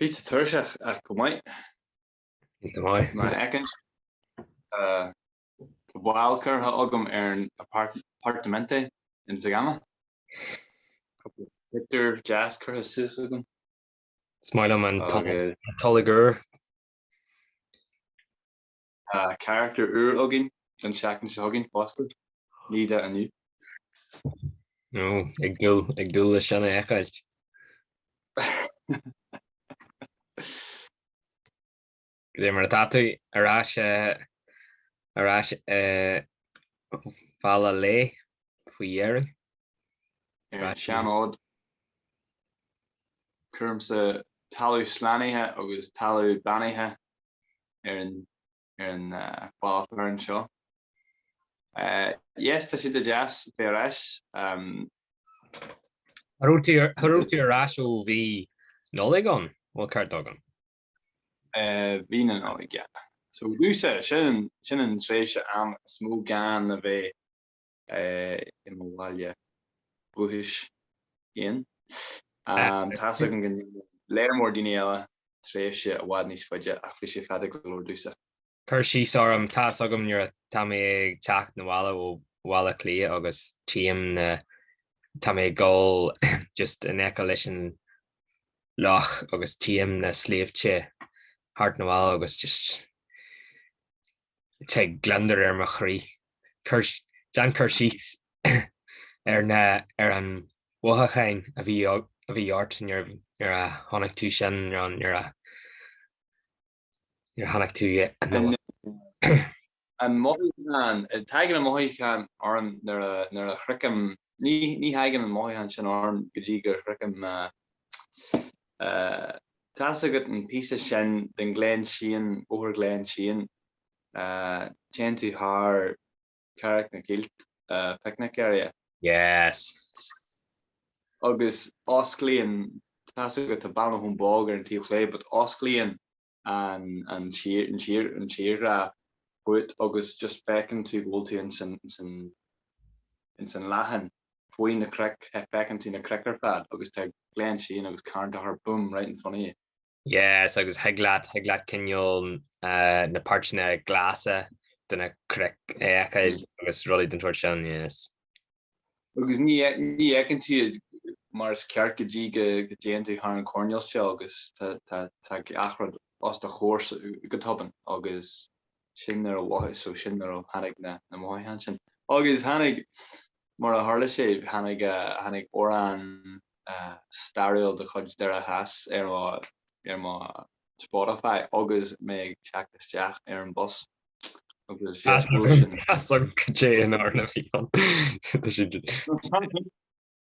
Bhí, tuirseach ach go maith. Bhí tú maith. Mar a fheiceann sibh, tá bail curtha agam ar an Apartamento in Zegama. Cúpla pioctúr deas curtha suas agam. Is maith liom an tolg úr. Tá carachtar úr againn an tseachtain seo againn fosta, Needa inniu. Ó, ag dul, ag dul leis sin a fheiceáilt. Caidé mar atá tú ar ais, ar ais i mBaile Locha Lé faoi dheireadh. Ar an seanfhód, chuigse talamh slánaithe agus talamh beannaithe ar an ar an phodchraoladh seo. Yes tá sé deas a bheith ar ais. Cha raibh tú cha raibh tú ar ais ó mhí Nollag an bhfuil an ceart agam? Mhí na Nollag yeah. So is é sin sin an tréimhse am is mó gean a bheith i mo bhaile dhúchais féin. Tá's agam go ndéanann léar mór daoine eile tréimhse i bhfad níos faide ach bhí sé fada go leor domhsa. Cuir síos orm, Tá's agam nuair atá mé ag teacht 'na bhaile ó Bhaile Átha Cliath agus tchím na, tá mé ag dul just in aice leis an loch agus tchím na sléibhte thart 'na bhaile agus just tig gliondar ar mo chroí. Déan cur síos ar an mhothúchán a bhí ort nuair a chonaic tú sin, nó nuair a chonaic tú an. An mothúchán, tagann an mothúchán orm nuair a shroichim, ní thagann an mothúchán sin orm go dtí go sroichim. Tá's agat an píosa sin den Glenshane, Bóthar Glenshane, Téann tú thar Carraig na gCill picnic area. Yes! Agus osclaíonn, tá's agat, tá bean ó Thóin Bog ar an taobh chlé, but osclaíonn an tírdhreá fút agus just feiceann tú go bhfuil tú ins an, ins an, ins an leathán faoi na cnoic, feiceann tú na cnoic ar fad agus tá Glenshane agus Carn Tóchair boom right in front of you. Yes agus thig leat thig leat cineál na páirteanna glasa de na cnoic a fheiceáil agus rudaí den tseort sin, yes. Agus ní ní fheiceann tú iad mar is ceart go dtí go go dtéann tú thar an choirnéal seo agus tá tá tá achan rud os do chomhair go tobann agus sin nuair a mhothaigh, so sin nuair a tháinig na, na mothaithe ansin. Agus tháinig, mar a tharla sé, tháinig, tháinig amhrán stairiúil de chuid Doire Theas ar mo, ar mo Spotify agus mé ag teacht isteach ar an bhus. Agus fios bhuail sin. As an cé in orna fion. Tá sin.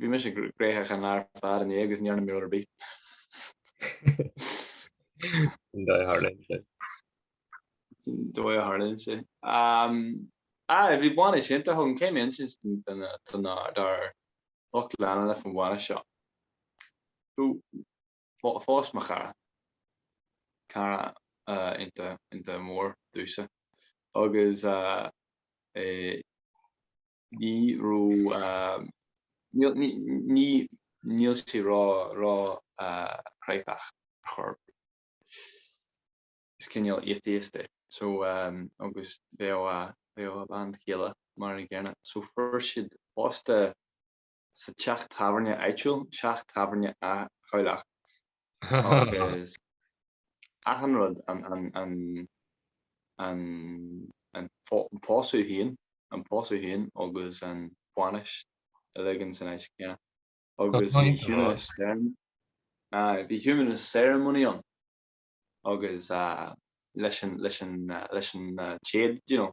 Bhí mise gnóitheach an lá ar fad inné agus níor fhan mé ar bith. Sin dóigh a tharlaíonn sé. Sin dóigh a tharlaíonn sé. Aye, bhí bainis iontach agam, coinne, inis dár lucht leanúna faoin bhainis seo. Phós mo chara. Cara iontach, iontach mór duitse. Agus eh ní raibh, níl, ní, ní, níl sé ró, ró chráifeach ar chor ar bith. Is cineál atheist é. So eh agus bheadh a, bheadh a bean chéile mar an gcéanna. So fuair siad pósta sa teach tábhairne áitiúil, Teach Tábhairne Áth Chabhlach, agus achan rud an pósadh féin, an pósadh féin agus an bhainis uilig ins an áit chéanna agus bhí humanist ceremony, aye, bhí humanist ceremony ann agus leis an téad, you know.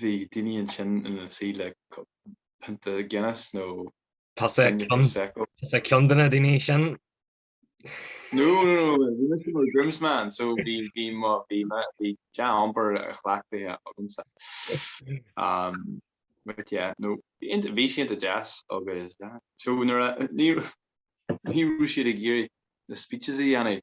Bhí daoine ansin ina suí le pionta Guinness nó pionta Prosecco. Tusa ceann de na daoine sin. No, no, no, bhí mise i mo groomsman, so bhí dea-iompar á chleachtadh agamsa. But yeah, no, bhí sé iontach deas agus yeah. So ní raibh sé ag iarraidh na speeches a dhéanamh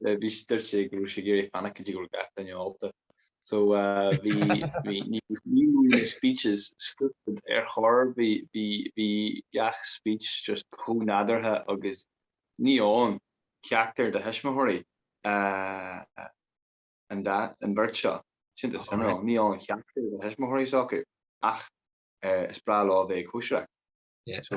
mar dúirt sé go raibh sé ag iarraidh fanacht go dtí go raibh gach duine ólta. So bhí ní raibh ní raibh na speeches scripted ar chor, bhí gach speech just chomh nádúrtha agus níl ceachtar de thuismitheoirí an bheirt seo, sin an cineál, níl ceachtar de thuismitheoirí sóbráilte ach is breá leo a bheith ag cóisireacht. So.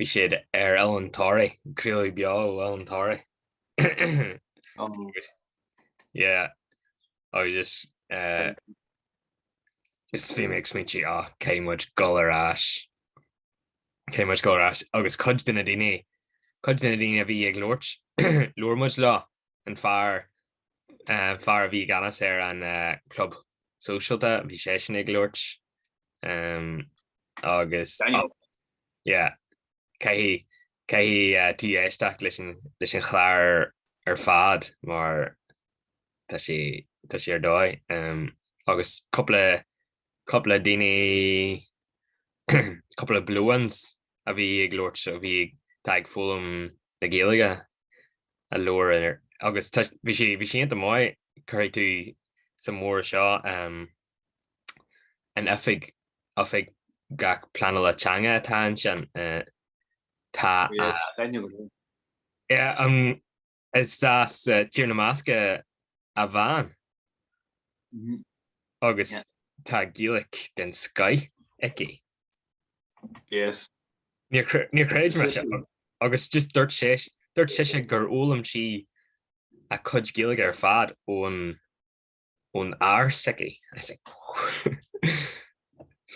Bhí siad ar Oileán Thoraí, craoladh beo Oileán Thoraí. Yeah, I was just uh, just bhí mé ag smaointí á ah, caithfidh muid gabháil ar ais, caithfidh muid gabháil ar ais agus cuid de na daoine, cuid de na daoine a bhí ag labhairt, labhair muid leo, an fear fear a bhí i gceannas ar an gClub Sóisialta, bhí seisean ag labhairt agus... Daniel. Yeah. Caithfidh, caithfidh tú éisteacht leis an, leis an chlár ar fad mar tá sé, tá sé ar dóigh. Agus cúpla, cúpla daoine, cúpla blow-ins a bhí ag labhairt, a bhí, atá ag foghlaim na Gaeilge a labhair air agus tá bhí sí bhí sí iontach maith cuirfidh tú sa mhór seo an oifig oifigeach pleanála teanga atá ansin tá yeah is as Tír na mBascach an bhean agus tá Gaeilge den scoth aici. Yes. Níor chreid mé sin agus just dúirt sé dúirt sise gur fhoghlaim sí a cuid Gaeilge ar fad ón ón fhear s'aici. I was like oh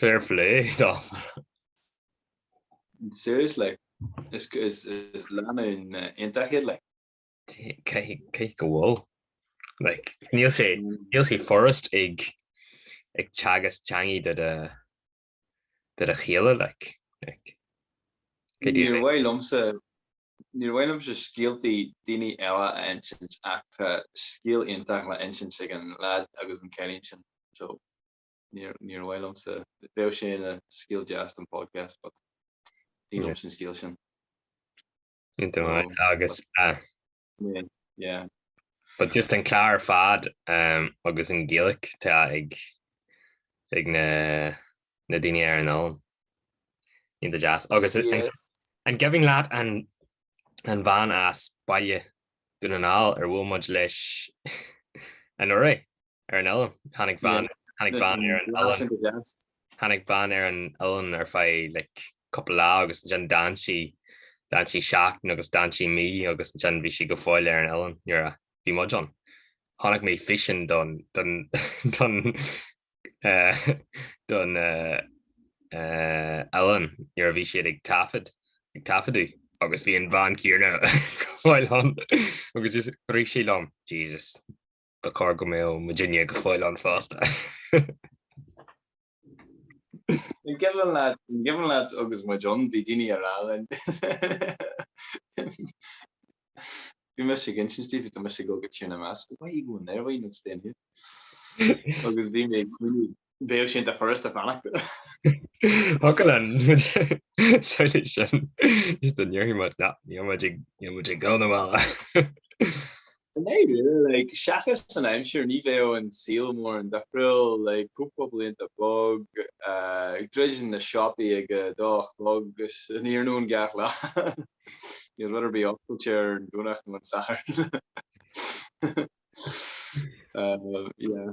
fair play dó. Seriously, is is is lánúin iontach iad like. cé go bhfuil like níl sé níl sé furast ag ag teagasc teanga do do do do chéile like like go dtí Níor mhaith liomsa níor mhaith liomsa scéaltaí daoine eile a insint ach tá scéal iontach le insint ag an leaid agus an cailín sin so níor níor mhaith liomsa bheadh sé ina scéal deas don podcast but ní liomsa an scéal sin. Ní dóigh agus a. Yeah. But just an clár ar fad um, agus an Ghaeilge atá ag, ag na, na daoine ar an oileán. Iontach deas. Agus an, Yes. an cuimhin leat an, an bhean as Baile Dhún na nGall ar bhuail muid leis anuraidh. ar an oileán. Tháinig bean tháinig bean ar an oileán. Tháinig bean ar an oileán ar feadh like cúpla lá agus ansin d'fhan sí d'fhan sí seachtain agus d'fhan sí mí agus ansin bhí sí go fóill ar an oileán nuair a bhí muid ann. Chonaic mé físeán don don don eh don eh oileán nuair a bhí siad ag taifead ag taifeadadh agus bhí an bhean céarna go fóill ann agus just rith sé liom Jesus. Ba chóir go mbeadh muidinne go fóill ann fosta. An cuimhin leat, an cuimhin leat agus muid ann, bhí daoine ag rá linn. Bhí mise ag insint daoibh, tá mise ag gabháil go Tír na mBascach, 'Why are you going there, why are you not staying here? Agus bhí mé ag cuimhneamh, bhéadh sin de thuras do bheannacht. Fucking hell, an solution just dá mbeadh muid, ná ní raibh muid ag, ní raibh muid ag dul na bhaile. No well, like, seachas an aimsir ní bhéadh an saol mórán difriúil, like, cúpla blianta bog, ag druidim na siopaí ag a dó a chlog san iarnóin gach lá. Níl rud ar bith oscailte ar an Domhnach nó an Satharn. Yeah.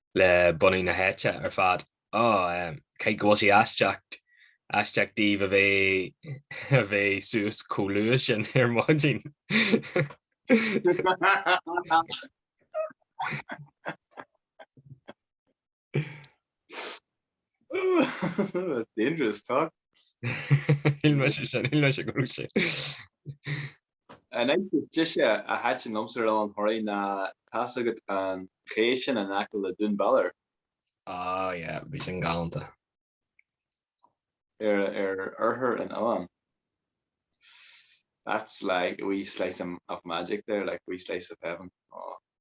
le bunadh na háite ar fad. Á, caithfidh go bhfuil sé aisteach, aisteach daoibh a bheith, a bheith suas chomh luath sin ar maidin. That's dangerous talk. Shíl mise sin, shíl mise go raibh sé. An áit is deise a thaitin liomsa ar Oileán Thoraí ná, tá's agat, an chéidh sin in aice le Dún Bhaloir. Ah yeah, bhí sin galánta. Ar oirthear an oileáin. That's like a wee slice of magic there, like a wee slice of heaven.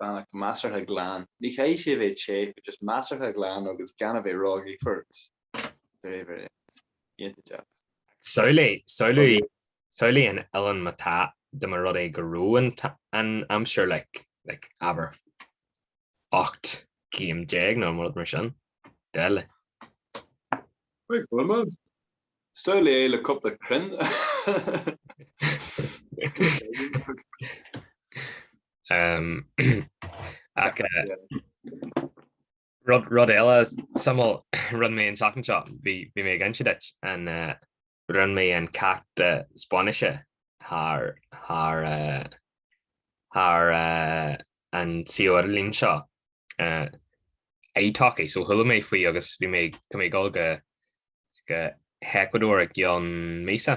like measartha glan. Ní chaithfidh sé a bheith te, but just measartha glan agus gan a bheith ró-ghaofar. Very, very nice. Iontaigh deas. Samhlaigh, samhlaigh, samhlaigh an oileán má tá, dá mba rud é go raibh an, an aimsir like, like abair 18 céim nó rud mar sin. Deile. Wait, what am I? Samhlaigh le cúpla crainn. Ach rud eile suimiúil, rinne mé an tseachtain seo, bhí mé ag inse duit, rinne mé an ceacht Spáinnise thar an seirbhís ar líne seo, italki, so chuala mé faoi agus bhí mé ag dul go hEacuadór i gcionn míosa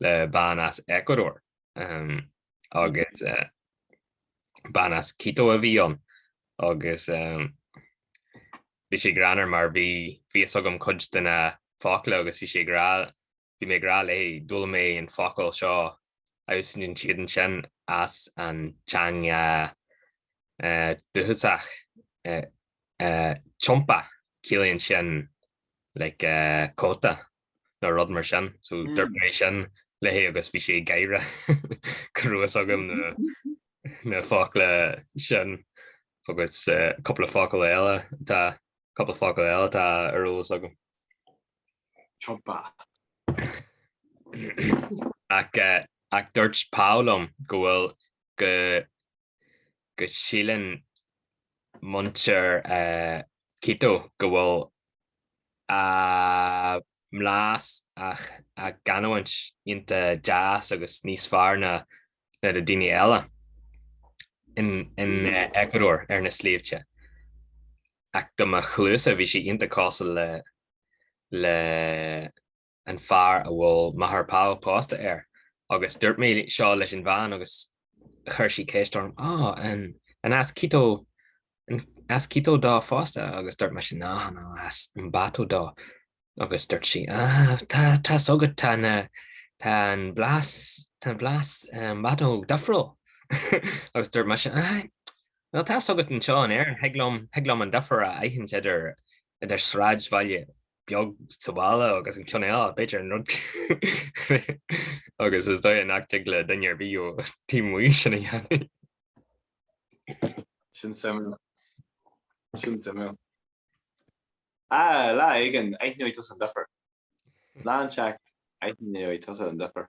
le bean as Ecuador agus bean as Quito a bhí ann agus bhí sé greannmhar mar bhí fhios agam cuid de na focla agus bhí sé ag rá, bhí mé ag rá léi d'fhoghlaim mé an focal seo agus thig siad ansin as an teanga dúchasach, chompa, ciallaíonn sin like cóta. nó rud mar sin, so dúirt mé sin léi agus bhí sí ag gáire go raibh a fhios agam na focla sin agus cúpla focal eile atá, cúpla focal eile atá ar eolas agam. Chompa. Ach dúirt Paul liom go bhfuil, go go síleann muintir Quito go bhfuil a mblas nó a gcanúint ionta deas agus níos fearr ná na daoine eile in Eacuadór ar na sléibhte. Ach do mo chluasa-sa bhí sí ionta cosúil le an fear a bhfuil máthair Pau pósta air, agus dúirt mé seo leis an bhean agus chuir sí ceist orm, Á, an as Quito, an as Quito dó fosta? agus dúirt mise, Ná, ná, as Ambato dó. Agus dúirt sí, Á, tá, tá's agat, tá na, tá an blas, tá an blas Ambato difriúil. agus dúirt mise, Á, bhuel, tá's agat anseo in Éirinn, thig liom, thig liom an difear a aithint idir, idir sráidbhaile beag sa bhaile agus an chéad cheann eile, b'fhéidir, an rud agus is dóigh liom nach dtig le duine ar bith ó taobh amuigh sin a dhéanamh. Sin suimiúil. Sin suimiúil. Lá éigin, aithneoidh tusa an duifear. Lá inteacht, aithneoidh tusa an difear.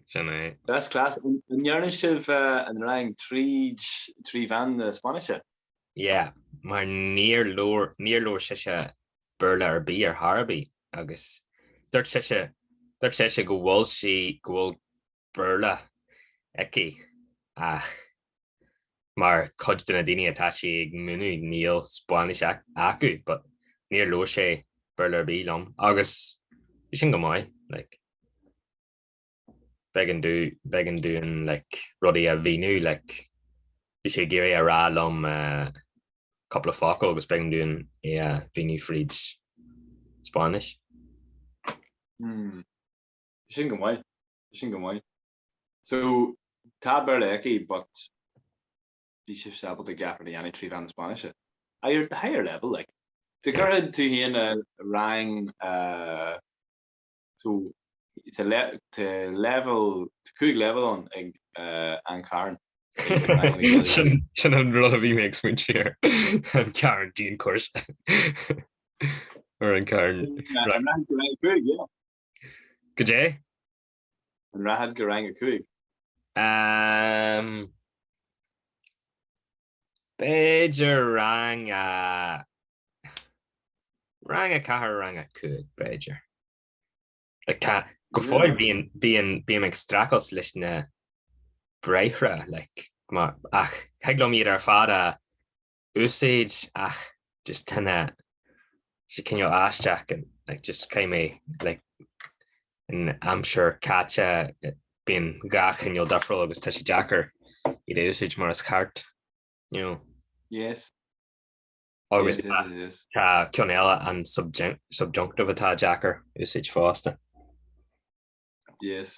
Sin é. That's class. An ndearna sibh an rang tríd trí mheán na Spáinnise? Yeah, mar níor labhair, níor labhair sise Béarla ar bith ar chor ar bith agus dúirt sise, dúirt sise go bhfuil sí, go bhfuil Béarla aici ach mar cuid de na daoine atá sí ag múineadh níl Spáinnis acu but níor labhair sí Béarla ar bith liom agus bhí sin go maith, like. b'éigean di, b'éigean di like rudaí a mhíniú like bhí sí ag iarraidh a rá liom eh cúpla focal agus b'éigean di é a mhíniú fríd Spáinnis. Hmm. Tá sin go maith. Tá sin go maith. So, tá Béarla aici but bhí sibh fós ábalta gach rud a dhéanamh trí mheán na Spáinnise. Aye or at the higher level like. Do Yeah. cuirfidh tú féin i rang eh Tá cúig leibhéal ann ag an Carn. Sin an rud a bhí mé ag smaointe air, an Carn dianchúrsa. Ar an Carn. Cad é? An rachfá go rang a cúig? B'fhéidir rang a. rang a ceathair, rang a cúig, b'fhéidir. Like, tá, go fóill bíonn, bíonn, bím ag streachailt leis na briathra, like, má, ach thig liom iad ar fad a úsaid, ach. just tá sé cineál aisteach and like just caith mé like in aimsir caite bíonn gach cineál difriúil agus tá sé deacair iad a úsáid mar is ceart you know yes agus yes, yes, yes. tá ceann eile an subjunctive atá deacair a úsáid fosta yes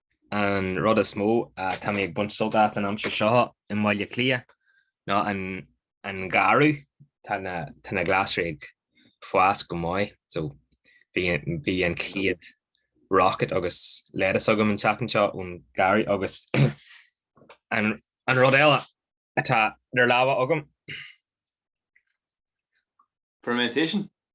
An rud is mó atá mé ag baint sult as an aimsir seo i mBaile Átha Cliath ná an garraí. Tá na glasraí ag fás go maith, so bhí an chéad rocket agus lettuce agam an tseachtain seo ón garraí agus an rud eile atá ar lámha agam. Fermentation?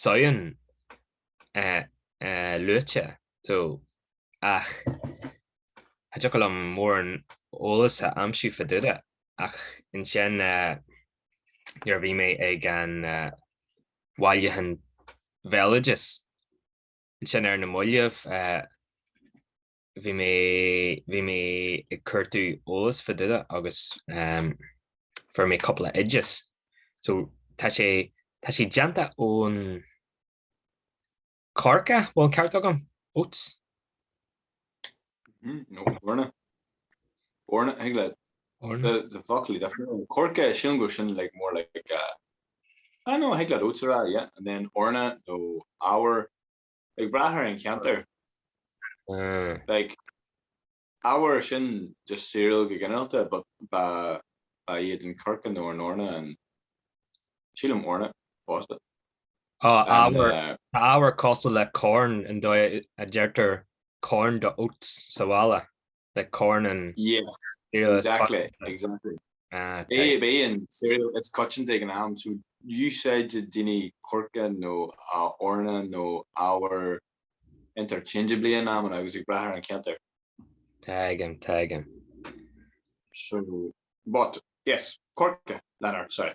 Samhain luaite so ach cha dtiocfadh liom mórán eolais a aimsiú fá dtaobh de ach ansin nuair a bhí mé ag an bhailiúchán béaloidis ansin ar na mallaibh, bhí mé bhí mé ag cuartú eolas fá dtaobh de agus um, fuair mé cúpla oideas. So tá sé tá sé déanta ón coirce bhfuil ceart agam oats. Mm, no, eorna. Eorna, I think like eorna. the the foclaí definitely coirce sin go sin like more like uh, I know I think like oats arbhar yeah, and then eorna nó arbhar Ag brath ar an cheantar, like arbhar sin just cereal go ginearálta, ba iad an coirce nó an eorna an, sílim eorna, fosta. Tá arbhar cosúil le corn, an dóigh a deirtear corn do oats sa bhaile. like corn an cereal is coitianta. Is coitianta ag an am so úsáideann daoine coirce nó eorna nó arbhar interchangeably in amanna agus ag brath ar an cheantar. Tagann, tagann. So, but, yes, coirce, lenar, sorry.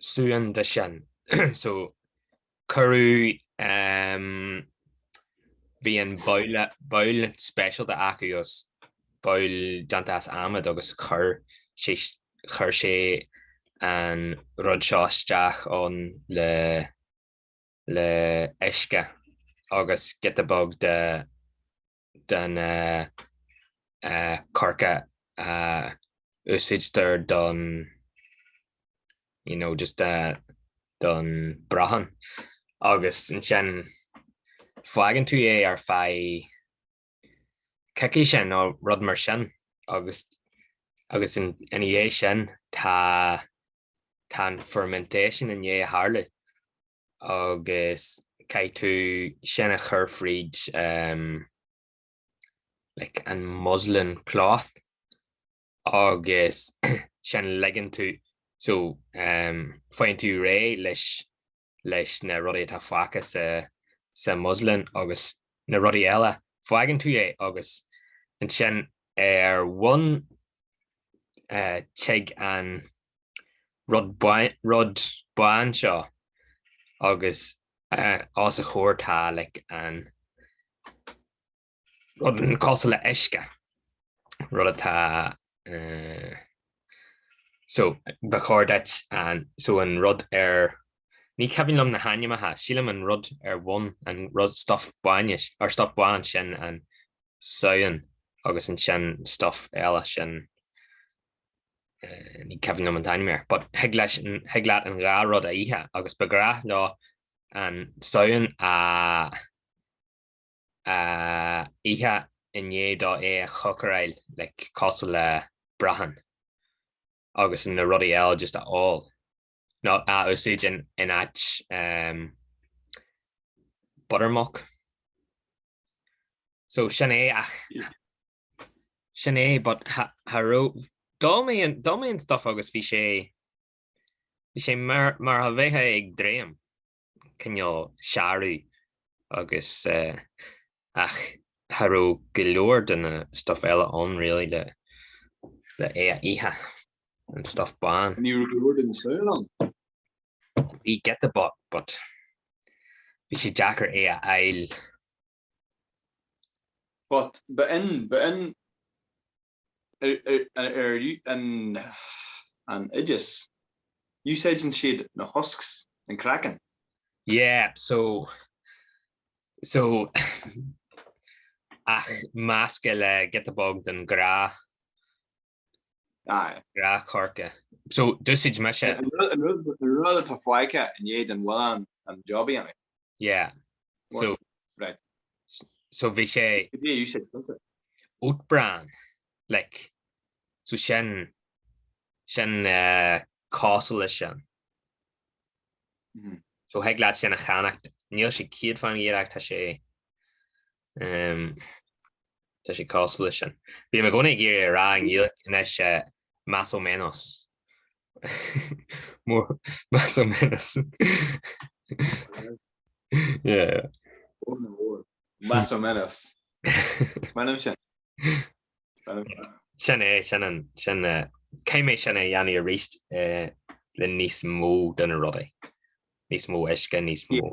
suan de sin. So, cuireadh, bhí an babhal, babhal speisialta acu as, babhal déanta as adhmad agus chuir sé, chuir sé an rud seo isteach ann le, le uisce agus giota beag de, den choirce a úsáidtear don you know just don brachán agus ansin fágann tú é ar feadh coicíse nó rud mar sin agus agus ina dhiaidh sin tá tá an fermentation i ndiaidh a tharlú agus caithfidh tú sin a chur fríd ehm like an muslin cloth agus sin ligeann tú so ehm faigheann tú réidh leis leis na rudaí atá fágtha sa sa muslin agus na rudaí eile fágann tú é agus ansin ar bhun eh, tig an rud bán seo agus os a chomhair tá like an rud an cosúil le uisce, rud atá eh so ba chóir duit an so an rud ar ní cuimhin liom na hainmneacha, sílim an rud ar bhun an rud stuff bainne or stuff bán sin an sowan agus ansin stuff eile sin Ní cuimhin liom an t-ainm air, but thig leis, thig leat an dhá rud a ithe agus ba ghnách leo an sowan a ithe i ndiaidh dó é a chócaráil like cosúil le brachán agus na rudaí eile just a ól nó a úsáid in áit buttermilk. So sin é ach sin é but cha raibh d'ól mé an stuff agus bhí sé bhí sé mar a bheifeá ag dréim cineál searbh agus ach cha raibh go leor de na stuff eile ann really le le é a ithe an stuff bán. Ní raibh go leor den sowan ann? Bhí giota but bhí sé deacair é a fháil But ba in ba in ar an an oideas úsáideann siad na husks an craiceann? Yeah, so so ach measctha le giota beag den ghrán. Aye. Grán coirce. So, d'úsaid mise. An rud atá fágtha i ndiaidh don mhuileann an job a dhéanamh. Yeah. So. Right. So bhí sé. Go dtí a úsáid fiontar. Oatbran. Like, so sin, sin cosúil leis sin. So thig leat sin a cheannacht. Níl sé 100 faoin gcéad ach tá sé Tá sé cosúil leis sin. Bím i gcónaí ag iarraidh a rá i nGaeilge anois más o menos. Más o menos. Más o menos. Is maith liom sin. Sin é, sin é. Caithfidh mé sin a dhéanamh arís le níos mó de na rudaí. Níos mó uisce, níos mó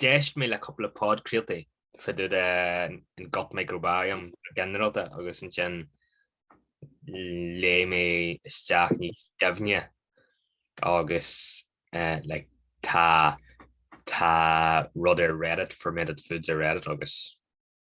D'éist mé le cúpla podchraoltaí fá dtaobh den gut microbiome go ginearálta agus ansin léigh mé isteach níos doimhne agus like tá rud ar Reddit, fermented foods ar Reddit agus.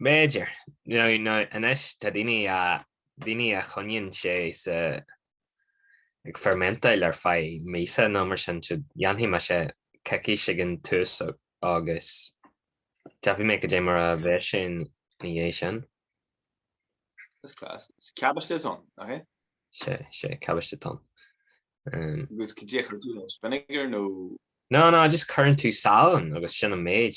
B'fhéidir. Nó anois tá daoine a choinníonn sé ag fermentáil ar feadh míosa nó mar sin, siúd, dhéanfaidh mise coicís ag an tús agus tífidh mé goidé mar a bheas sé ina dhiaidh sin. That's class. Is cabáiste atá ann, nach é? Sé, sé, cabáiste atá ann. Agus goidé chuir tú leis vinegar nó? No, no, just cuireann tú salann agus sin an méid.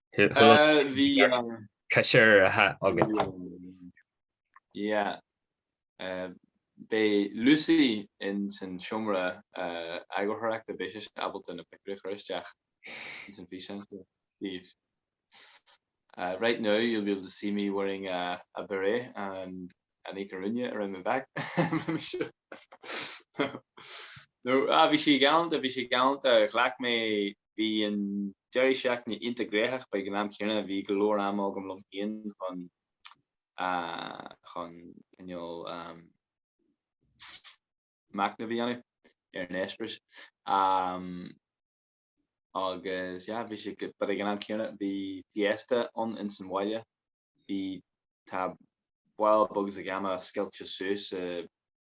Bhí an. Caiséir a hea agat. Yeah. Beidh Lucy ins an seomra eagarthóireachta, beidh sise ábalta na pictiúirí a chur isteach ins an físeán seo daoibh. Right now you'll be able to see me wearing a a beret and an ikurriña around my back. No, ah bhí sí galánta, bhí sí galánta, ghlac mé Bhí an deireadh seachtaine iontach gnóitheach, but ag an am céanna, bhí go leor ama agam liom féin chun chun cineál machnamh a dhéanamh ar an eispéireas. Agus yeah, bhí sé but ag an am céanna bhí fiesta ann insan bhaile bhí tá bhil bugus ag ama scilte suas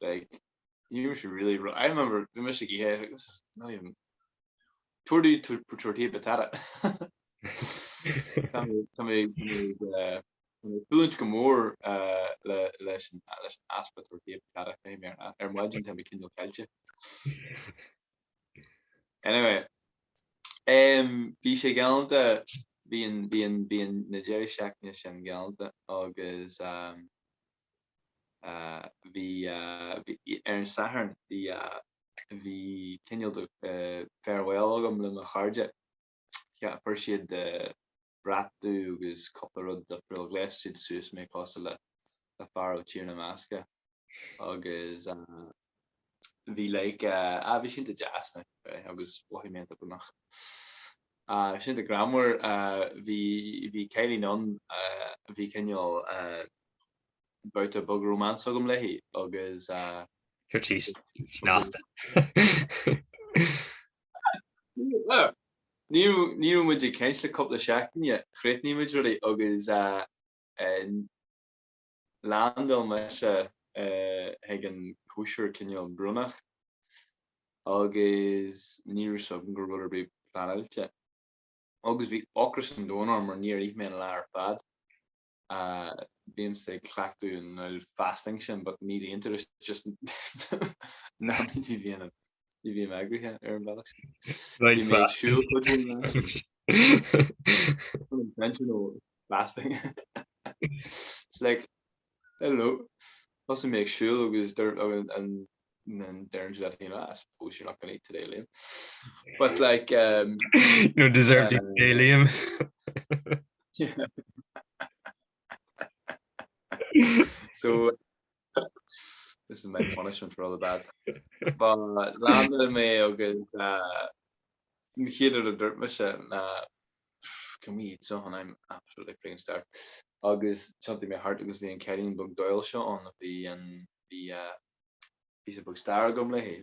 like you were really wrong I remember bhí mise ag ithe this is not even tortilla tortilla patata Tá mé buailte go mór leis an easpa tortilla patata ar maidin tá mé cineál caillte anyway bhí sé galánta bhí an bhí an bhí an deireadh seachtaine sin galánta agus Ar an Satharn bhí cineál de farewell agam le mo chairde. Chuir siad brat dubh agus cúpla rud difriúil, ghléas siad suas mé cosúil le fear ó Tír na mBascach agus. bhí like ah bhí siad iontach deas like eh agus bohemian go nach ah bhí siad iontach greannmhar ah bhí bhí cailín ann ah bhí cineál eh babhta beag romance agam léi agus ah ah ní raibh ní raibh muid ag caint le cúpla seachtaine chríochnaigh muid rudaí agus ah eh Landáil mise ag an cóisir cineál brónach agus ní raibh 's agam go raibh rud ar bith pleanáilte agus bhí ocras an domhain orm mar níor ith mé an lá ar fad. Bímse ag cleachtadh an aul fasting sin but ní d'aon turas just nach mé ní bhíonn. Ní bhím eagraithe ar an bhealach siúl fasting like hello was mé ag siúl agus der an der dat hin I suppose you're not gonna eat today Liam but like you don't deserve to eat today, Liam so This is my punishment for all the bad things. But landáil mé agus an chéad rud a dúirt mise ná Can we eat something? I'm absolutely freaking starved. Agus thiontaigh mé thart agus bhí an ceirín beag dóighiúil seo ann a bhí an, bhí píosa beag stair agam léi.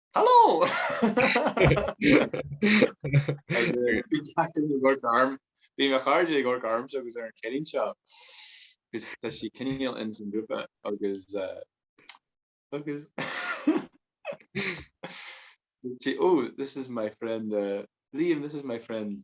Hello! Bhí achan duine ag amharc orm. Bhí mo chairde ag amharc ormsa agus ar an cheirín seo cause tá sí cineál ins an grúpa agus agus dúirt sí oh this is my friend Liam, this is my friend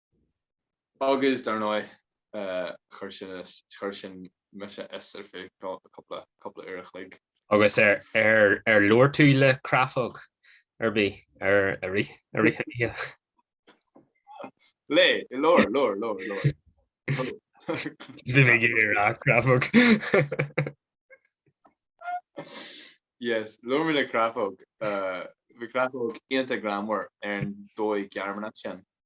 Agus dar ndóigh, chuir sin mise as ar feadh cúpla uair a chloig. Agus ar labhair tú le creafóg ar bith i rith an oíche? Léigh, labhair, labhair, labhair, labhair. Bhí mé ag iarraidh a rá creafóg. Yes, labhair mé le creafóg. Bhí creafóg iontach greannmhar ar an dóigh Ghearmánach sin.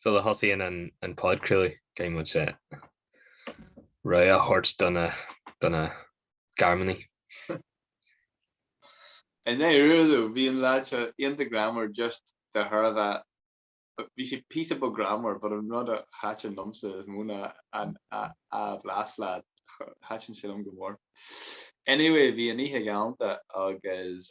Sula thosaíonn an podchraoladh, caithfidh muid rabhadh a thabhairt do na Gearmánaigh. Anyway, Bhí an leaid seo iontach greannmhar just de thairbhe bhí sé píosa beag greannmhar but an rud a thaitin liomsa is mó ná an a bhlas leaid, thaitin sé liom go mór. Anyway, bhí an oíche galánta agus.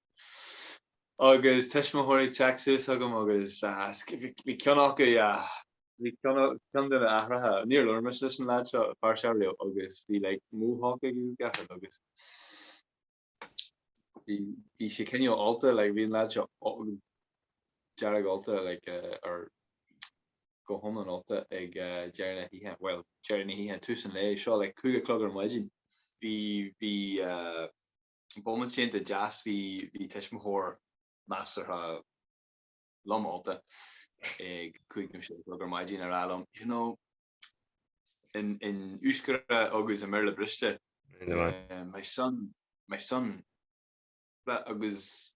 agus tuismitheoirí ag teacht suas chugam agus bhí ceann acu, bhí ceann de na haithreacha, níor labhair mise leis an leaid seo go pearsanta riamh agus bhí like Mohawk aige go deacair agus bhí sé cineál ólta, like bhí an leaid seo dearg ólta like or go hiomlán ólta ag deireadh na hoíche, bhuel deireadh na hoíche, tús an lae seo like cúig a chlog ar maidin, bhí bomaite iontach deas, bhí tuismitheoir measartha lom ólta ag cúig nó sé a chlog ar maidin ag rá liom, you know, in Euskera agus i mBéarla briste, my son, my son, agus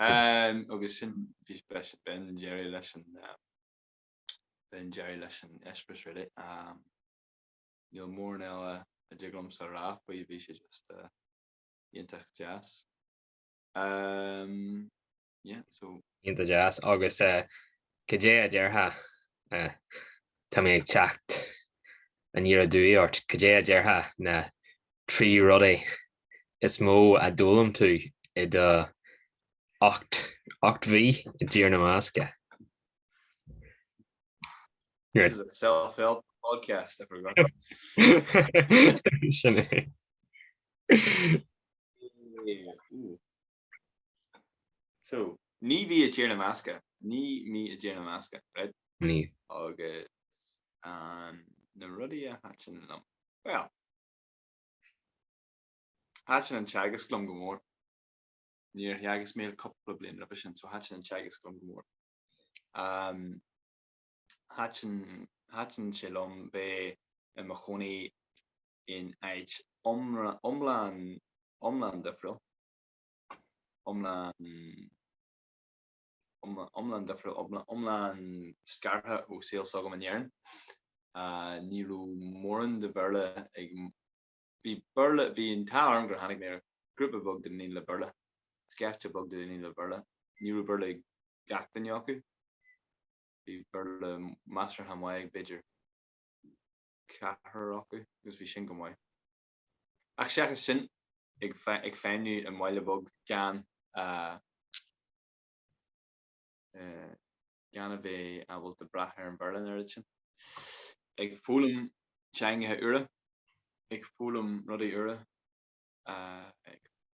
Agus sin, bhí b'in deireadh leis an, b'in deireadh leis an eispéireas really. Níl mórán eile a dtig liomsa a rá faoi, bhí sé just iontach deas. Yeah, so. Iontach deas agus goidé a déarfá, tá mé ag teacht aniar aduaidh ort, goidé a déarfá na trí rudaí is mó a d'fhoghlaim tú i do ocht, ocht mhí i dTír na mBascach? This is a self-help podcast, I forgot. Sin é. Ooh. So. Naoi mí i dTír na mBascach. Naoi mí i dTír na mBascach. Right? Naoi. Agus an na rudaí a thaitin liom. Bhuel. Thaitin an teagasc liom go mór. Níor theagasc mé le cupla bliain roimhe sin so thaitin an teagasc liom go mór. Umm. Thaitin sé liom bheith i mo chónaí in áit iomlán difriúil, iomlán difriúil, iomlán scartha ó saol s'agam in Éirinn. Ní raibh mórán de Bhéarla ag, bhí an t-ádh orm gur tháinig mé ar ghrúpa beag de dhaoine le Béarla, scaifte beag de dhaoine le Béarla. Ní raibh Béarla ag gach duine acu. bhí Béarla measartha maith ag b'fhéidir ceathrar acu agus bhí sin go maith. Ach seachas sin, ag feidhmniú i mbaile beag gan a bheith ábalta brath ar an Bhéarla an oiread sin. Ag foghlaim teangacha úra, ag foghlaim rudaí úra, ag.